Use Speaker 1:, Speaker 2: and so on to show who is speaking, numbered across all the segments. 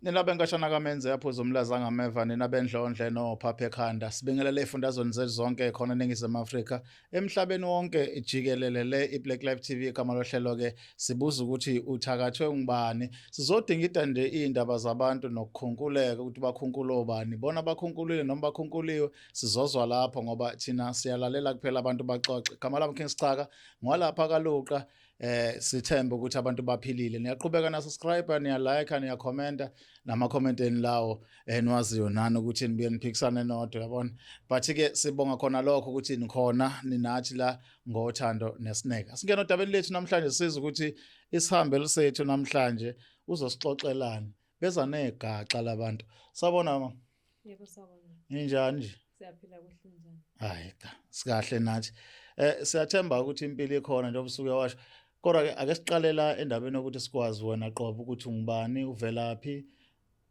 Speaker 1: Nina benkashana kamenze yaphuza umlaza ngameva nina bendlondle no phaphe khanda sibingelele ifundazweni zezonke khona eningizimu Afrika emhlabeni wonke jikelele le iBlack Life TV igama lohlelo ke sibuza ukuthi uthakathwe ngubani sizodinga idande indaba zabantu nokukhunkuleka ukuthi bakhunkula obani bona bakhunkulile noma bakhunkuliwe sizozwa lapho ngoba thina siyalalela kuphela abantu baxoxe igama lami King Sicaka ngwalapha kaluqa eh sithembe ukuthi abantu baphilile niyaqhubeka na subscribe niya like niya comment nama comment eni lawo eniwaziyo eh, nani ukuthi nibuye niphikisane nodwa yabona but ke sibonga khona lokho ukuthi nikhona ninathi la ngothando nesineke singena odabeni lethu namhlanje siza ukuthi isihambe lisethu namhlanje uzosixoxelana beza negaxa labantu sabona mama Yebo sawona.
Speaker 2: Ninjani nje?
Speaker 1: Siyaphila kuhle
Speaker 2: njani? Hayi cha,
Speaker 1: sikahle nathi. Eh siyathemba ukuthi impilo ikhona njengoba usuke washo. Kodwa ke ake siqalela endabeni yokuthi sikwazi wena qobo ukuthi ungubani, uvelaphi,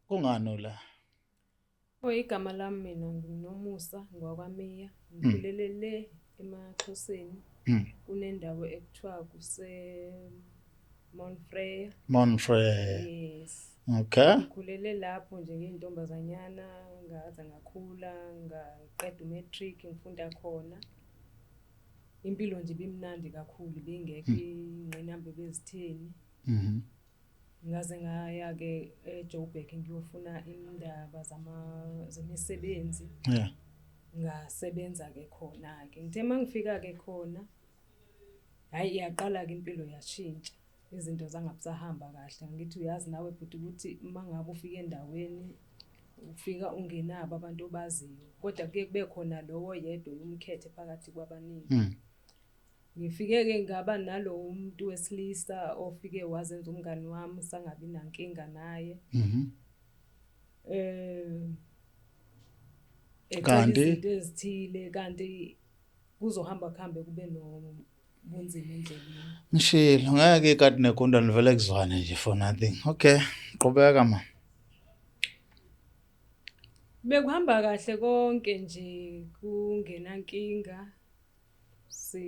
Speaker 1: kungani la? Oh
Speaker 2: igama lami mina nginomusa ngwakwamiya ngikhulele le emaXhoseni mm. kunendawo ekuthiwa kuse Mount Freya Mount Freya
Speaker 1: yes
Speaker 2: okay ngikhulele
Speaker 1: lapho
Speaker 2: nje ngiyintombazanyana ngaze ngakhula ngaqeda umatric ngifunda khona impilo nje bimnandi kakhulu bingekho mm. ingqinamba bezitheni mhm ngaze ngaya-ke ejoburg ngiyofuna indaba zemisebenzi yeah.
Speaker 1: ngasebenza-ke
Speaker 2: khona-ke ngithe uma ngifika-ke khona hhayi iyaqala-ke impilo yashintsha izinto zangabusahamba kahle ngithi uyazi nawe bhuti ukuthi uma ngabe ufika endaweni ufika ungenabo abantu obaziyo kodwa kuye kube khona lowo yedwa umkhethe phakathi kwabaningi mm. Ngifike-ke ngaba nalowo muntu wesilisa ofike wazenza umngani wami sangabi nankinga naye. Mhm.
Speaker 1: Eh kanti izinto ezithile
Speaker 2: kanti kuzohamba kuhambe kube no bunzima endleleni. Ngishilo ngeke
Speaker 1: kade negonda livele kuzwane nje for nothing. Okay, qhubeka ma.
Speaker 2: Bekuhamba kahle konke nje kungenankinga. si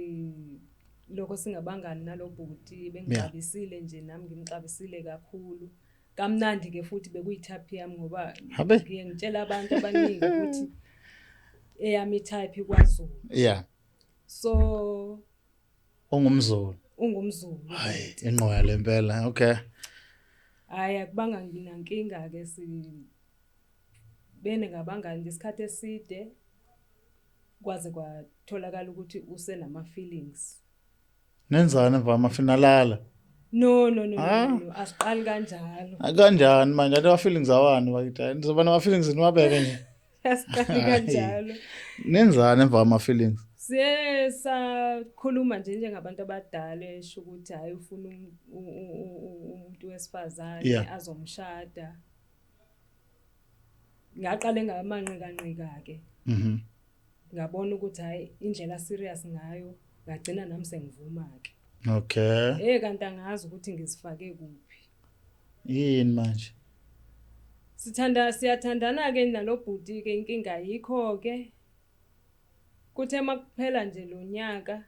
Speaker 2: lokho singabangani nalobhuti bengixabisile nje nami ngimxabisile kakhulu kamnandi ke futhi bekuyithapi yami ngoba ngiye ngitshela abantu abaningi ukuthi eyami type ikwaZulu yeah
Speaker 1: so ungumzulu ungumzulu
Speaker 2: hayi inqoya
Speaker 1: lempela okay hayi
Speaker 2: akubanga nginankinga ke si beningabangani ngesikhathi eside kwaze kwatholakala ukuthi usenama feelings nenzani
Speaker 1: mva mafinalala no no
Speaker 2: no ah. no asiqali kanjalo ah, kanjani manje athi
Speaker 1: feelings awani bakithi ndizoba nama feelings niwabeke nje asiqali
Speaker 2: kanjalo nenzani
Speaker 1: emva ama feelings siye sakhuluma
Speaker 2: nje njengabantu abadala esho ukuthi hayi ufuna um, umuntu wesifazane azomshada ngaqale ngamanqikanqika-ke mhm. ngabona ukuthi hhayi indlela serious ngayo ngagcina nami sengivuma-ke okay hey
Speaker 1: kanti angazi ukuthi
Speaker 2: ngizifake kuphi yini
Speaker 1: manje sithanda
Speaker 2: siyathandana ke nalobhuti ke inkinga yikho ke kuthe makuphela nje lonyaka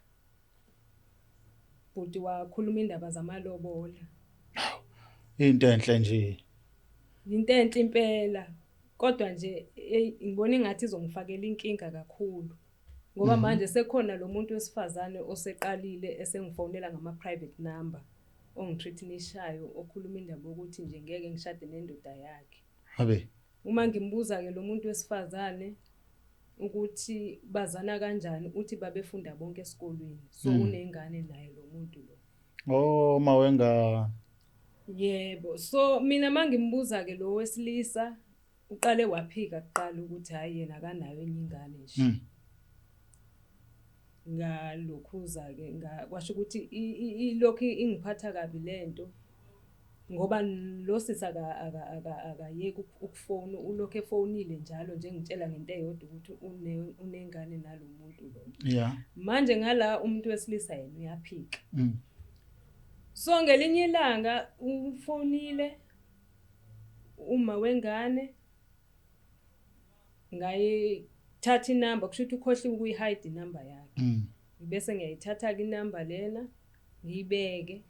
Speaker 2: Bhuti wakhuluma indaba zamalobola.
Speaker 1: Into enhle nje. Into
Speaker 2: enhle impela. Kodwa nje hey ngibona ingathi izongifakela inkinga kakhulu. Ngoba mhm. manje sekhona lo muntu wesifazane oseqalile esengifonela ngama private number ongithreatenishayo okhuluma indaba ukuthi nje ngeke ngishade nendoda yakhe. Habe.
Speaker 1: Uma ngimbuza-ke
Speaker 2: lo muntu wesifazane ukuthi bazana kanjani uthi babefunda bonke esikolweni so mm. unengane naye lo muntu lo oh uma
Speaker 1: wengane yebo
Speaker 2: so mina mangimbuza ke lo wesilisa uqale waphika kuqala ukuthi hayi yena akanayo enye ingane nje mm. ngalokhuza ke kwasho ukuthi ilokhu ingiphatha kabi lento ngoba lo sisi akayeki ukufona ulokhu efonile njalo nje ngitshela ngento eyodwa ukuthi unengane nalo muntu lo yeah manje
Speaker 1: ngala
Speaker 2: umuntu wesilisa yena uyaphika mm. so ngelinye ilanga ufonile uma wengane ngayithatha inamba kusho ukuthi ukhohliwe ukuyihide inamba yakhe mm. ngibese ngiyayithatha-ke inamba lena ngiyibeke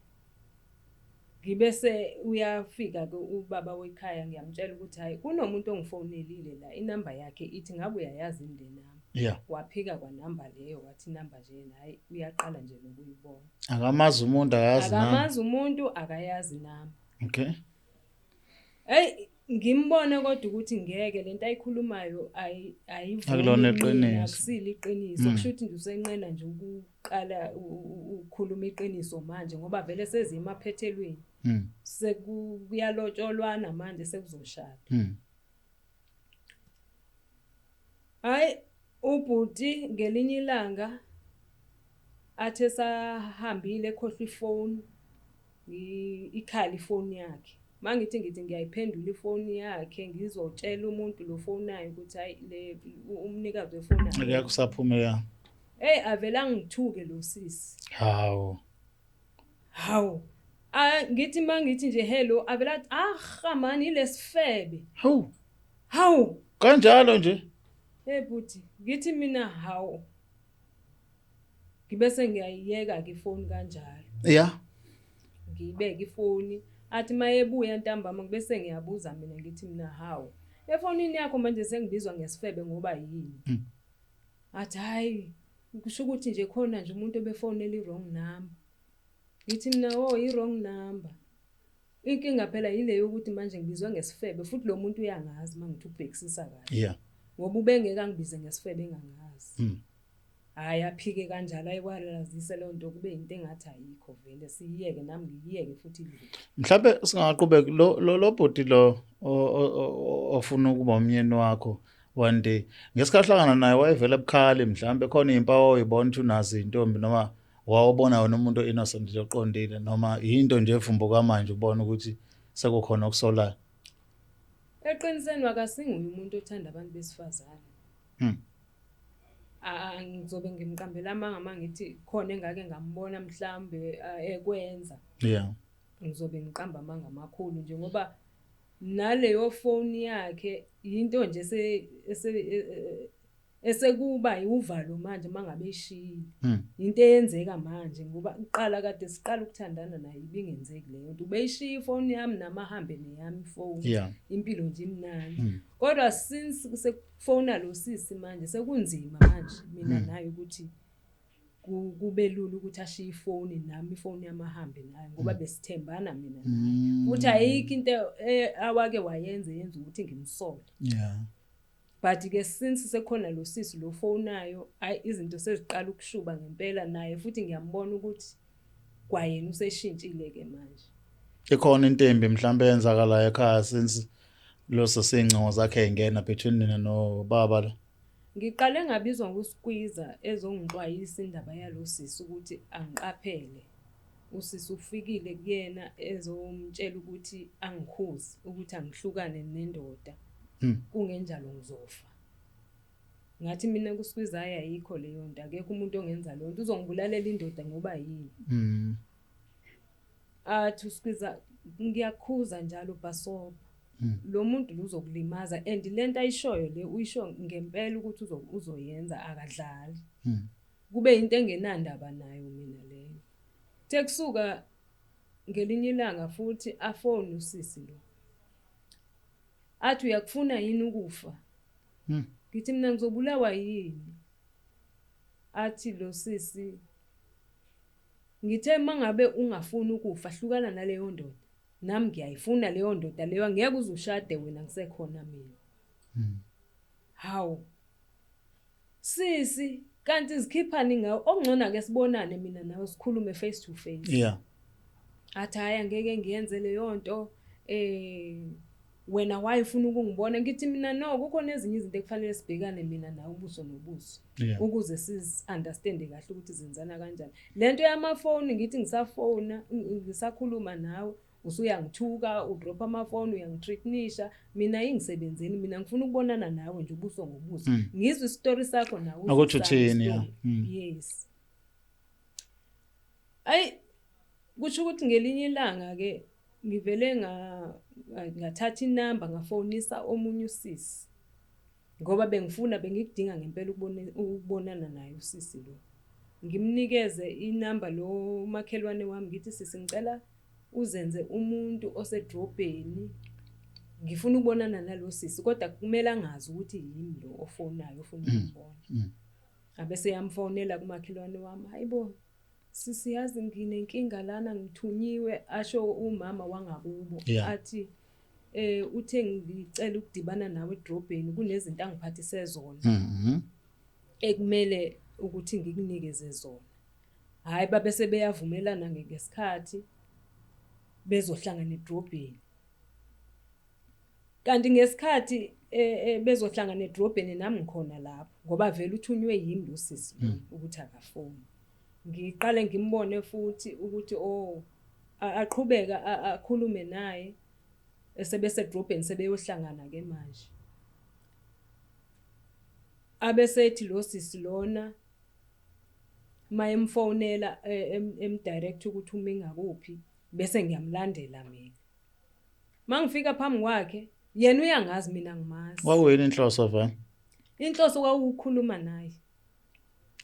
Speaker 2: ngibese uyafika-ke ubaba wekhaya ngiyamtshela ukuthi hhayi kunomuntu ongifonelile la inamba yakhe ithi ngabe uyayazi yini le namba yeah. waphika
Speaker 1: kwanamba
Speaker 2: leyo wathi inamba nje yena hhayi uyaqala nje nokuyibona akamazi umuntu
Speaker 1: akayazi akamazi umuntu
Speaker 2: akayazi inamba okay eyi ngimbone kodwa ukuthi ngeke lento ayikhulumayo ayikulona
Speaker 1: iqiniso akusile iqiniso
Speaker 2: mm. kusho ukuthi nje usenqena nje ukuqala ukukhuluma iqiniso manje ngoba vele sezima phethelweni mm. sekuyalotsholwana manje sekuzoshada mm. Hayi ubhuti ngelinye ilanga athi esahambile ekhohlwa ifoni ikhala ifoni yakhe uma ngithi ngithi ngiyayiphendula ifoni yakhe ngizotshela umuntu lo fonayo ukuthi hayi le umnikazi wefoni yakusaphumela
Speaker 1: eyi avele
Speaker 2: angithuke lo sisi hawu
Speaker 1: Hawu.
Speaker 2: Ah ngithi mangithi nje hello avela ah man ilesifebe. Hawu.
Speaker 1: Hawu. Kanjalo nje. Hey bhuti,
Speaker 2: ngithi mina hawu. Ngibese ngiyayiyeka ke phone kanjalo. Yeah.
Speaker 1: Ngiyibeke
Speaker 2: ifoni athi mayebuya ntambama ngibese ngiyabuza mina ngithi mina hawu. Efonini yakho manje sengibizwa ngesifebe ngoba yini? Hmm. Athi hayi Kusho ukuthi nje khona nje umuntu obefonela i-wrong number. Ngithi mina o oh, i-wrong number. Inkinga phela yile yokuthi manje ngibizwa ngesifebe futhi lo muntu uyangazi uma ngithi ubhekisisa kahle. Yeah. Ngoba ubengeke angibize ngesifebe engangazi. Mm. Hayi aphike kanjalo ayikwarealizise leyo nto kube into engathi ayikho vele siyiyeke nami ngiyiyeke futhi idlule. Mhlawumbe singaqhubeka
Speaker 1: lo lo bhoti lo ofuna ukuba umyeni wakho one day ngesikhathi hlangana naye wayevele ebukhali mhlawumbe khona iy'mpawu oyibona ukuthi unazo iy'ntombi noma wawubona wena umuntu o-innocent nje oqondile noma yinto nje evumbo kamanje ubona ukuthi sekukhona okusolayo
Speaker 2: eqiniseni wakasinguye umuntu othanda abantu besifazane hmm. ngizobe ngimqambela amanga uma ngithi khona engake ngambona mhlawumbe ekwenza yeah
Speaker 1: ngizobe
Speaker 2: ngiqamba amanga amakhulu nje ngoba Naleyo foni yakhe yinto nje ese ese e, e, e, esekuba yiwuvalo manje mangabe ishiyile. Hmm. Into eyenzeka manje ngoba uqala kade siqala ukuthandana naye ibingenzeki leyo nto. Ubeyishiya ifoni yami nama hambe neyami ifoni. Yeah. Impilo nje
Speaker 1: imnandi.
Speaker 2: Hmm. Kodwa since sekufona lo sisi manje sekunzima manje mina hmm. naye ukuthi kube lula ukuthi ashiye ifoni nami ifoni yami ahambe nayo ngoba mm. besithembana mina mm. futhi ayikho into e, awake wayenze yenza ukuthi ngimsole yeah
Speaker 1: but
Speaker 2: ke since sekhona lo sisi lo fonayo ayi izinto seziqala ukushuba ngempela naye futhi ngiyambona ukuthi kwayena useshintshile ke manje ikhona intembi
Speaker 1: mhlawumbe yenzakala ekhaya since lo sesingcingo zakhe engena between nina no baba la Ngiqale ngabizwa
Speaker 2: nguSkwiza ezongixwayisa indaba yalo sisi ukuthi angiqaphele. Usisi ufikile kuyena ezomtshela ukuthi angikhuzi ukuthi angihlukane nendoda. Hmm. Kungenjalo ngizofa. Ngathi mina kuSkwiza ayikho leyo nto akekho umuntu ongenza leyo nto uzongibulalela indoda ngoba yini. Hmm. Ah to squeeze ngiyakhuza njalo bhasobha. Hmm. Lo muntu uzokulimaza and lento ayishoyo le uyisho ngempela ukuthi uzoyenza akadlali. Hmm. Kube into engenandaba nayo mina leyo. Tekusuka ngelinye ilanga futhi afone usisi lo. Athi uyakufuna yini ukufa? Hmm. Ngithi mina ngizobulawa yini? Athi lo sisi Ngithe mangabe ungafuni ukufa hlukana naleyondoda nami ngiyayifuna leyondoda leyo angeke uze ushade wena ngisekhona mina. Hmm. Hawu. Sisi kanti izikhiphani ngawe okungcona ke sibonane mina nawe sikhulume face to face. Yeah.
Speaker 1: Athi
Speaker 2: hayi angeke ngiyenze leyonto eh wena why ufuna ukungibona ngithi mina no kukhona ezinye izinto ekufanele sibhekane mina nawe ubuso nobuso yeah. ukuze siunderstande kahle ukuthi zenzana kanjani le nto yamafoni ngithi ngisafona ngisakhuluma nawe usuyangithuka udropha amafoni uyangitreatnisha mina ingisebenzeni mina ngifuna ukubonana nawe nje ubuso ngobuso mm. ngizwe isitori sakho nawe ukuthi uthini
Speaker 1: ya mm. yes
Speaker 2: ayi kusho ukuthi ngelinye ilanga ke ngivele ngathatha inamba ngafonisa omunye usisi ngoba bengifuna bengikudinga ngempela ukubonana naye usisi lo ngimnikeze inamba lo makhelwane wami ngithi sisi ngicela uzenze umuntu osedrobheni ngifuna ukubonana nalo sisi kodwa kumele angazi ukuthi yini lo ofonayo ofuna mm, ukubona mm. abese yamfonela kumakhelwane wami hayibo Sisi yazi nginenkinga lana ngithunyiwe asho umama wangakubo yeah. athi eh uthe ngicela ukudibana nawe edrobheni kunezinto angiphathise zona mhm mm ekumele ukuthi ngikunikeze zona hayi babe sebeyavumelana ngesikhathi bezohlangana edrobheni kanti ngesikhathi eh, eh, bezohlangana edrobheni nami ngikhona lapho ngoba vele uthunywe yimi lo sisi hmm. ukuthi akafoni ngiqale ngimbone futhi ukuthi o oh, aqhubeka akhulume naye esebese edrobheni sebeyohlangana ke manje abesethi lo sisi lona mayemfonela eh, emdirect ukuthi uma ingakuphi bese ngiyamlandela mina Mangifika phambi kwakhe yena uyangazi mina ngimazi. Wawuyini inhloso vana?
Speaker 1: Inhloso
Speaker 2: kwawukukhuluma naye.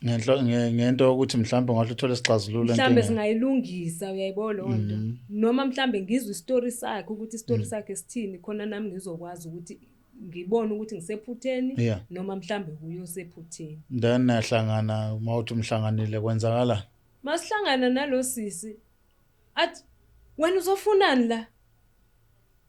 Speaker 2: Ngenhlo ngento
Speaker 1: ukuthi mhlawumbe ngahle uthole isixazululo enkinga. Mhlawumbe singayilungisa
Speaker 2: uyayibona lo nto. Mhm. Noma mhlawumbe ngizwe istory sakhe ukuthi istory mm. sakhe sithini khona nami ngizokwazi ukuthi ngibone ukuthi ngisephutheni yeah. noma mhlambe kuyo sephutheni then nahlangana
Speaker 1: uma uthi umhlanganile kwenzakalani masihlangana
Speaker 2: nalosisi athi wena uzofunani la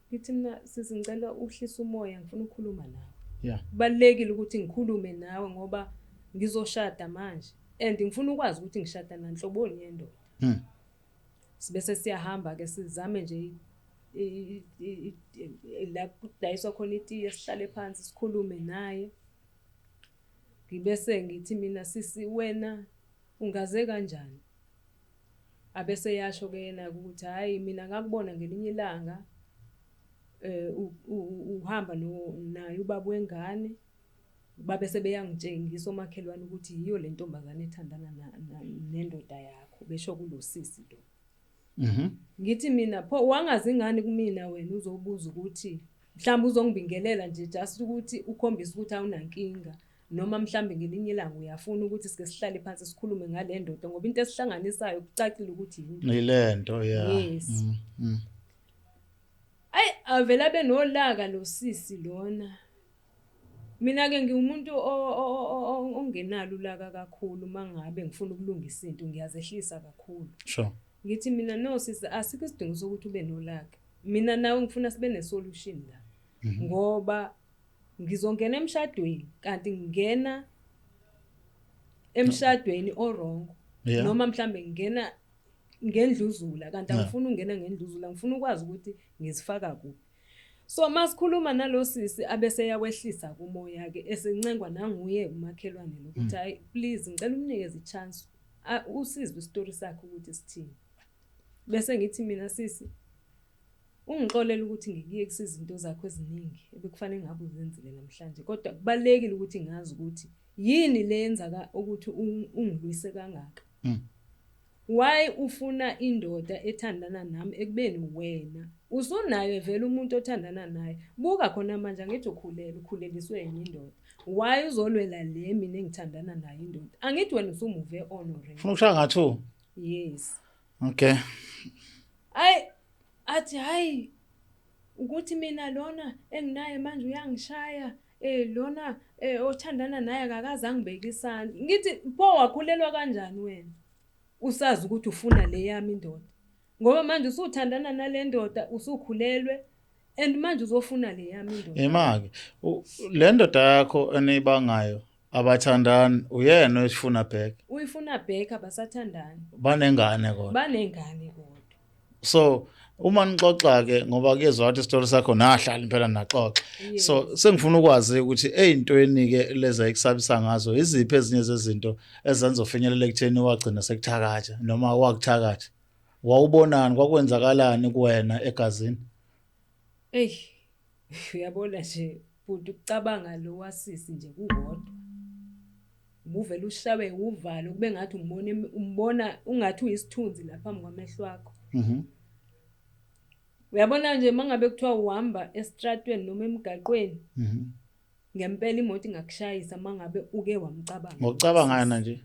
Speaker 2: ngithi mina sisi ngicela uhlisa umoya ngifuna ukukhuluma nawe yeah kubalekile ukuthi ngikhulume nawe ngoba ngizoshada manje and ngifuna ukwazi ukuthi ngishada nanhloboni yendoda hmm. sibese siyahamba ke sizame nje la kudayiswa khona itiye sihlale phansi sikhulume naye ngibese ngithi mina sisi wena ungaze kanjani Abese yasho ke yena ukuthi hayi mina ngakubona ngelinye ilanga eh uhamba no naye ubaba wengane babe sebeyangitshengisa omakhelwane ukuthi yiyo le ntombazane ethandana nendoda yakho besho kulosisi lo mhm ngithi mina pho wangazi ngani kumina wena uzobuza ukuthi mhlawumbe uzongibingelela nje just ukuthi ukhombisa ukuthi awunankinga noma mhlawumbe ngelinye ilanga uyafuna ukuthi sike sihlale phansi sikhulume ngale ndoda ngoba into esihlanganisayo kucacile ukuthi yini ile nto
Speaker 1: ya yes mm,
Speaker 2: mm. ayi avela benolaka lo sisi lona mina ke ngiwumuntu ongenalo ulaka kakhulu mangabe ngifuna ukulungisa into ngiyazehlisa kakhulu sure ngithi
Speaker 1: mina no
Speaker 2: sisi asikho isidingo sokuthi ube nolaka mina nawe ngifuna sibe ne solution la mhm. ngoba ngizongena emshadweni kanti ngingena emshadweni orongo yeah. noma mhlambe ngingena ngendluzula kanti angifuni ungena ngendluzula ngifuna ukwazi ukuthi ngizifaka kuphi so masikhuluma nalosisi abese yakwehlisa kumoya ke esincengwa nanguye umakhelwane lokuthi mm. hayi please ngicela umnikeze ichance usizwe istory sakhe ukuthi sithini bese ngithi mina sisi Ungixolela ukuthi ngikuyekisa izinto zakho eziningi ebekufanele ngabe uzenzile namhlanje kodwa kubalekile ukuthi ngazi ukuthi yini leyenza ka ukuthi ungilwise kangaka. Mm. Why ufuna indoda ethandana nami ekubeni wena usunayo vele umuntu othandana naye buka khona manje angithi ukhulele ukhuleliswe yini indoda why uzolwela le mina engithandana naye indoda angithi wena usumuve on already ufuna ukushaya ngathu
Speaker 1: yes okay hayi
Speaker 2: athi hayi ukuthi mina lona enginaye manje uyangishaya eh lona eh othandana naye akakaze angibeke isandla ngithi pho wakhulelwa kanjani wena usazi ukuthi ufuna le yami indoda ngoba manje usuthandana nale ndoda usukhulelwe and manje uzofuna le yami indoda ema-ke
Speaker 1: le ndoda yakho eniyibangayo abathandani uyena oyifuna back uyifuna back
Speaker 2: abasathandani banengane kodwa
Speaker 1: banengane
Speaker 2: kodwa so
Speaker 1: uma nixoxa ke ngoba kuyezwa ukuthi isitori sakho nahlali phela naxoxa so sengifuna ukwazi ukuthi ezintweni ke leza ikusabisa ngazo iziphi ezinye zezinto ezenza ufinyelela ekutheni wagcina sekuthakatha noma wakuthakatha wawubonani kwakwenzakalani kuwena egazini ey
Speaker 2: Uyabona nje bhuti ukucabanga lo wasisi nje kukodwa. Ubuvele ushawe uvalo kube ngathi umbona umbona ungathi uyisithunzi lapha ngamehlo akho. Mhm. Uyabona nje mangabe kuthiwa uhamba estratweni noma emgaqweni. Mhm. Ngempela imoto ingakushayisa mangabe uke wamcabanga. Ngokucabangana
Speaker 1: nje.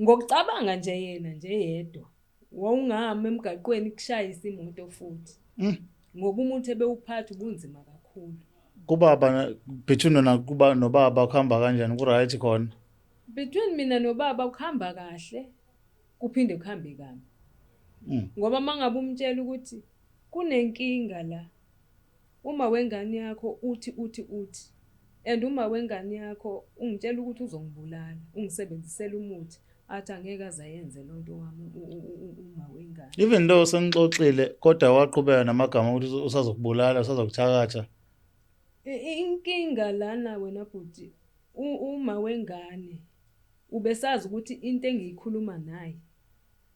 Speaker 2: Ngokucabanga nje yena
Speaker 1: nje
Speaker 2: yedwa wawungahamba emgaqweni kushayisa imoto futhi. Mm. Ngoba umuntu ebewuphatha ubunzima kakhulu. Kubaba
Speaker 1: between nona kuba nobaba kuhamba kanjani ku right khona? Between mina
Speaker 2: nobaba kuhamba kahle kuphinde kuhambe kabi. Mm. Ngoba mangabe umtshela ukuthi kunenkinga la Uma wengane yakho uthi uthi uthi and uma wengane yakho ungitshela ukuthi uzongibulala ungisebenzisela umuthi athi angeke azayenze lonto wami uma wengane even though sengixoxile
Speaker 1: kodwa waqhubeka namagama ukuthi usazokubulala usazokuthakatha inkinga
Speaker 2: lana wena bhuti uma wengane ubesazi ukuthi into engiyikhuluma naye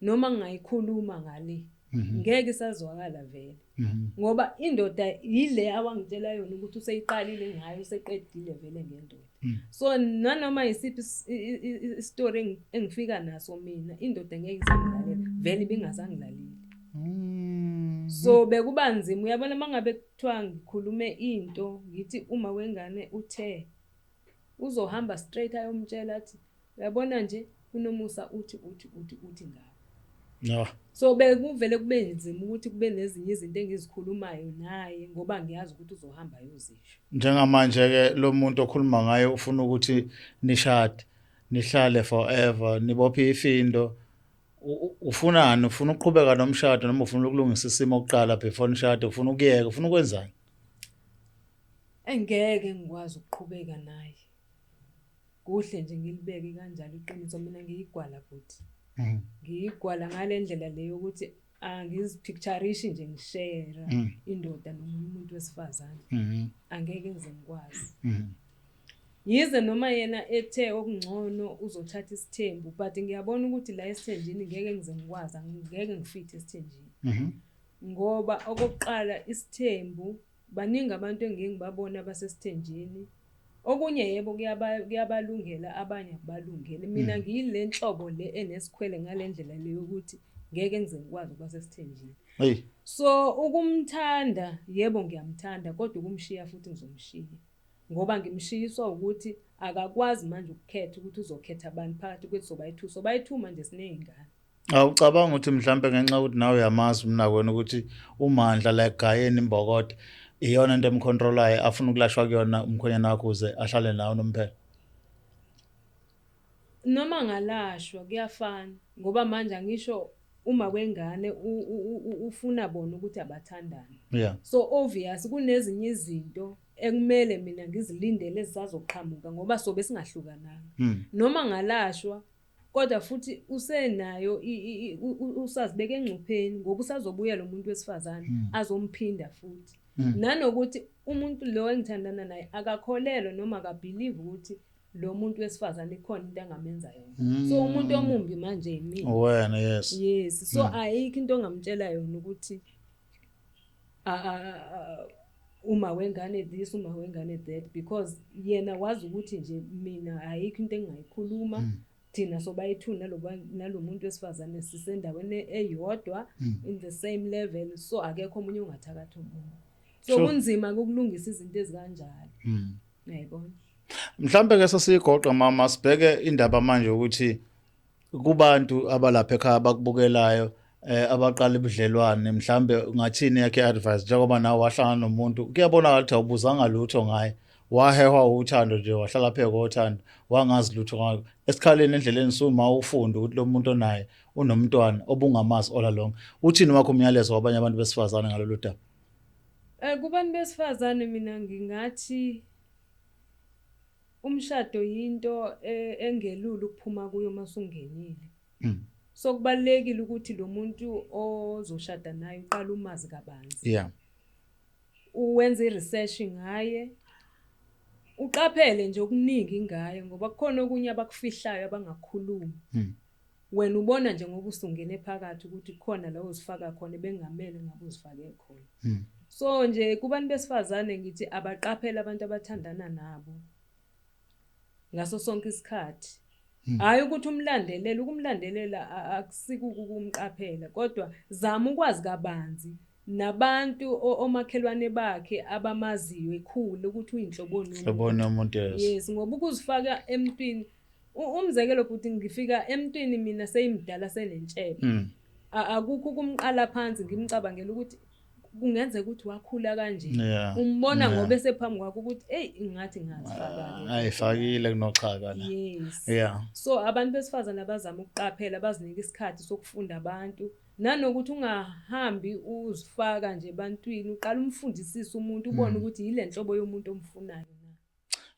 Speaker 2: noma ngingayikhuluma ngale mhm. ngeke isazwakala vele mhm. ngoba indoda yile awangitshela yona ukuthi useyiqalile ngayo useqedile vele ngendoda mhm. so nanoma yisiphi istory engifika naso mina indoda ngeke isangilalela vele ibingazangilaleli so bekuba nzima uyabona mangabe kuthiwa ngikhulume into ngithi uma wengane uthe Uzohamba straight ayomtshela athi uyabona nje uNomusa uthi uthi uthi uthi ngawe. No.
Speaker 1: So bekuvele
Speaker 2: kube nzima ukuthi kube nezinye izinto engizikhulumayo naye ngoba ngiyazi ukuthi uzohamba ayozisho. Njengamanje ke
Speaker 1: lo muntu okhuluma ngaye ufuna ukuthi nishade, nihlale forever, nibophe ifindo. Ufunani? Ufuna ukuqhubeka nomshado noma ufuna ukulungisa isimo kuqala before nishade? Ufuna ukuyeka? Ufuna ukwenzani?
Speaker 2: engeke ngikwazi ukuqhubeka naye kuhle nje ngilibeke kanjalo iqiniso mina ngiyigwala futhi mm. ngiyigwala ngale ndlela le yokuthi angizipicturishi nje ngishera mm. indoda noma umuntu wesifazane mm-hmm. angeke ngize ngikwazi mm-hmm. yize noma yena ethe okungcono uzothatha isithembu but ngiyabona ukuthi la esithenjini ngeke ngize ngikwazi ngeke ngifithi esithenjini mm-hmm. Ngoba okokuqala isithembu baningi abantu engiye ngibabone abasesithenjini. Okunye yebo kuyabalungela abanye akubalungeli. Mina mm. ngiyile nhlobo le enesikhwele ngale ndlela le yokuthi ngeke ngize ngikwazi ukuba sesithenjini. So ukumthanda yebo ngiyamthanda kodwa ukumshiya futhi ngizomshiya. Ngoba ngimshiyiswa ukuthi akakwazi manje ukukhetha ukuthi uzokhetha bani phakathi kwethu sobayi-two. Sobayi-two manje siney'ngane. Awucabanga ukuthi
Speaker 1: mhlampe ngenxa ukuthi nawe uyamazi umnakwenu ukuthi umandla la egayeni imbokode iyona into emcontrolayo afuna ukulashwa kuyona umkhonyana wakho uze ahlale nawo nomphela.
Speaker 2: Noma ngalashwa kuyafana ngoba manje angisho uma kwengane ufuna bona ukuthi abathandane. Yeah. So
Speaker 1: obvious
Speaker 2: kunezinye izinto ekumele mina ngizilindele ezisazoqhamuka ngoba sobe singahlukananga. Hmm. Noma ngalashwa Kodwa futhi usenayo usazibeka engcupheni ngoba usazobuya lo muntu wesifazane hmm. azomphinda futhi. Hmm. Nanokuthi umuntu lo engithandana naye akakholelwa noma akabhilivi ukuthi lo muntu wesifazane ikhona into angamenza yona mm. so umuntu omumbi manje yimina wena yes yes
Speaker 1: so mm. ayikho
Speaker 2: into ongamtshela yona ukuthi uma wengane this uma wengane that because yena wazi ukuthi nje mina ayikho into engingayikhuluma mm. thina sobayi-two nalo muntu wesifazane sisendaweni eyodwa mm. in the same level so akekho omunye ongathakathi omunye so kunzima ukulungisa izinto ezikanjalo mm. yayibona mhlambe
Speaker 1: ke sesiyigoqa mama sibheke indaba manje ukuthi kubantu abalapha ekhaya bakubukelayo eh abaqala ubudlelwane mhlambe ngathini yakhe advice njengoba nawe wahlangana nomuntu kuyabona ukuthi awubuzanga lutho ngaye wahehwa uthando nje wahlala phe kothando wangazi lutho ngakho esikhaleni endleleni suma ufunde ukuthi lo muntu onaye unomntwana obungamazi all along uthini wakho umyalezo wabanye abantu besifazane ngalolu daba Eh kubantu
Speaker 2: besifazane mina ngingathi Umshado yinto e, engelula ukuphuma kuyo uma sungenile. Mm. So kubalekile ukuthi lo muntu ozoshada naye uqala umazi kabanzi. Yeah. Uwenza iresearch ngaye. Uqaphele nje okuningi ngaye ngoba kukhona okunye abakufihlayo abangakhulumi. Mm. Wena ubona nje ngoba usungene phakathi ukuthi khona la uzifaka khona bengamele ngabe uzifake khona. Hmm. So nje kubantu besifazane ngithi abaqaphele abantu abathandana nabo ngaso sonke isikhathi. Hmm. Hayi ukuthi umlandelela, ukumlandelela akusike ukumqaphela kodwa zama ukwazi kabanzi nabantu omakhelwane bakhe abamaziyo ekhulu ukuthi uyinhloboni umuntu.
Speaker 1: Yes, ngoba
Speaker 2: ukuzifaka emntwini umzekelo bhuti ngifika emntwini mina seyimdala senentshebe mm. akukho ukumqala phansi ngimcabangela ukuthi kungenzeka ukuthi wakhula kanje umbona
Speaker 1: ngoba esephambi
Speaker 2: kwakho
Speaker 1: ukuthi
Speaker 2: eyi ingathi ngazifakile ah,
Speaker 1: kunoxhaka la yeah so
Speaker 2: abantu
Speaker 1: besifazane
Speaker 2: abazama ukuqaphela bazinika isikhathi sokufunda abantu nanokuthi ungahambi uzifaka nje ebantwini uqala umfundisise umuntu ubone mm. ukuthi yile nhlobo yomuntu omfunayo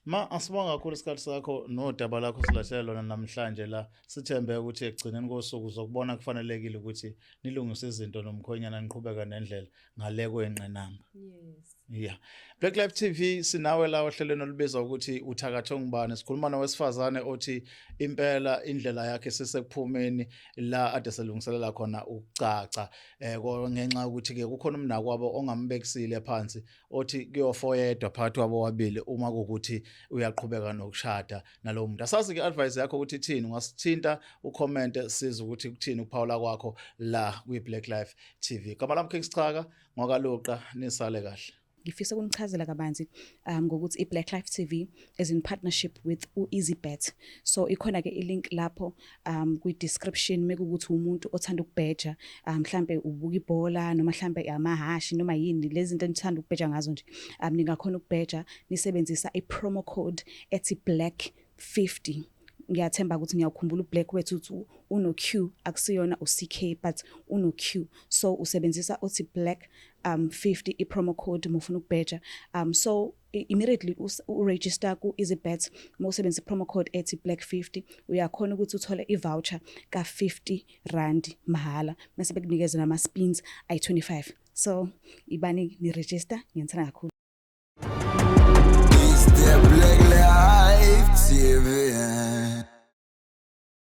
Speaker 2: Ma
Speaker 1: asibonga kakhulu isikhathi sakho nodaba lakho silahlela lona namhlanje la sithembe ukuthi ekugcineni kosuku zokubona kufanelekile ukuthi nilungise izinto nomkhonyana niqhubeka nendlela ngale kwenqinamba. Yes. Yeah.
Speaker 2: Black
Speaker 1: Life TV sinawe la ohlelweni olubizwa ukuthi uthakatho ngubani sikhuluma nowesifazane othi impela indlela yakhe sisekuphumeni la ade selungiselela khona ukucaca eh ngenxa ukuthi ke kukhona umnakwabo ongambekisile phansi othi kuyofa oyedwa phakathi kwabo wabili uma kukuthi uyaqhubeka nokushada nalowo muntu asazi ke advice yakho ukuthi ithini ungasithinta ucomment siza ukuthi kuthini ukuphawula kwakho la kwi Black Life TV gama lami King Sichaka ngwakaluqa nisale kahle ngifisa ukunichazela
Speaker 3: kabanzi um ngokuthi iBlack Life TV is in partnership with uEasyBet so ikhona ke ilink lapho um kwi description mekukuthi umuntu othanda ukubheja um mhlambe ubuka ibhola noma mhlambe amahashi noma yini lezi zinto enithanda ukubheja ngazo nje um ningakhona ukubheja nisebenzisa i promo code ethi black 50 ngiyathemba ukuthi ngiyakhumbula ublack wethu uthi uno Q akusiyona uCK but uno Q so usebenzisa othi black um 50 i promo code mufuna ukubheja um so immediately uregister ku EasyBet uma usebenzisa promo code ethi black 50 uyakhona ukuthi uthole ivoucher ka 50 rand mahhala mase bekunikeza nama spins ayi 25 so ibani ni register ngiyenzana kakhulu
Speaker 4: Is there black life TV